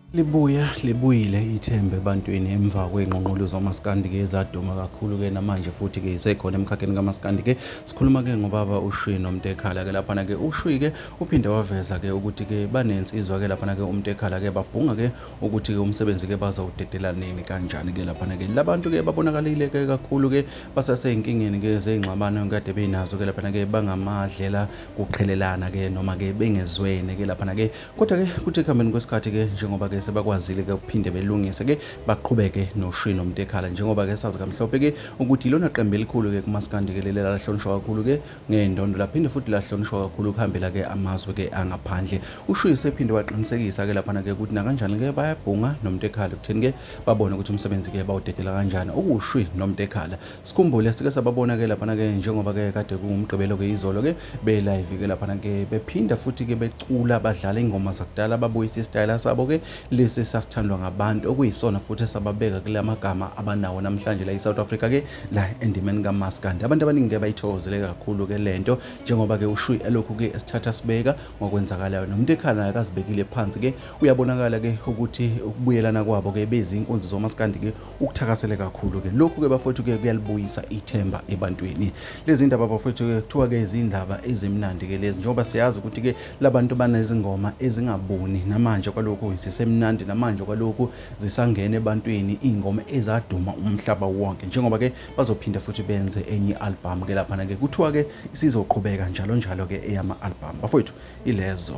Libuya libuyile ithemba ebantwini emva kwey'nqunqulu zomasikandi-ke ezaduma kakhulu-ke namanje futhi-ke isekhona emkhakheni kamasikandi-ke sikhuluma-ke ngobaba ushwi nomntekhala-ke laphana-ke ushwi-ke uphinde waveza-ke ukuthi-ke banensizwa-ke laphana-ke umntekhala-ke babhunga-ke ukuthi-ke umsebenzi-ke bazawudedela nini kanjani-ke laphana-ke labantu-ke babonakalile-ke kakhulu-ke basasey'nkingeni-ke zey'ngxabano kade bey'nazo-ke laphana-ke bangamadlela kuqhelelana ke noma ke bengezwene ke lapha ke kodwa ke kuthi ekuhambeni kwesikhathi ke njengoba ke sebakwazile ke ukuphinde belungise ke baqhubeke noshwi nomtekhala njengoba ke sazi kamhlophe ke ukuthi ilona qembu elikhulu ke kumaskandi ke leli lahlonishwa kakhulu ke ngendondo laphinde futhi lahlonishwa kakhulu kuhambela ke amazwe ke angaphandle ushwi sephinde waqinisekisa ke lapha ke ukuthi nakanjani ke bayabhunga nomtekhala kutheni ke babone ukuthi umsebenzi ke bawudedela kanjani okushwi nomtekhala Sikhumbule sike sababona ke laphana ke njengoba ke kade kungumgqibelo ke izolo ke be live ke laphana ke bephinda futhi ke becula badlala ingoma zakudala babuyisa isitayela sabo ke lesi sasithandwa ngabantu okuyisona futhi esababeka kule magama abanawo namhlanje la iSouth Africa ke la endimeni kaMaskandi abantu abaningi ke bayithokozele kakhulu ke lento njengoba ke ushuyi elokhu ke esithatha sibeka ngokwenzakalayo nomuntu ekhala akazibekile phansi ke uyabonakala ke ukuthi ukubuyelana kwabo ke bezinkunzi zoMaskandi ke ukuthakasele kakhulu ke lokhu ke bafowethu ke kuyalibuyisa ithemba ebantwini lezi ndaba bafowethu ke kuthiwa ke izindaba ezimnandi ke lezi njengoba siyazi ukuthi ke labantu banezingoma ezingabuni namanje kwalokhu zisemnandi namanje kwalokhu zisangene ebantwini ingoma ezaduma umhlaba wonke njengoba ke bazophinda futhi benze enye album ke lapha ke kuthiwa ke isizoqhubeka njalo njalo ke eyama album bafowethu ilezo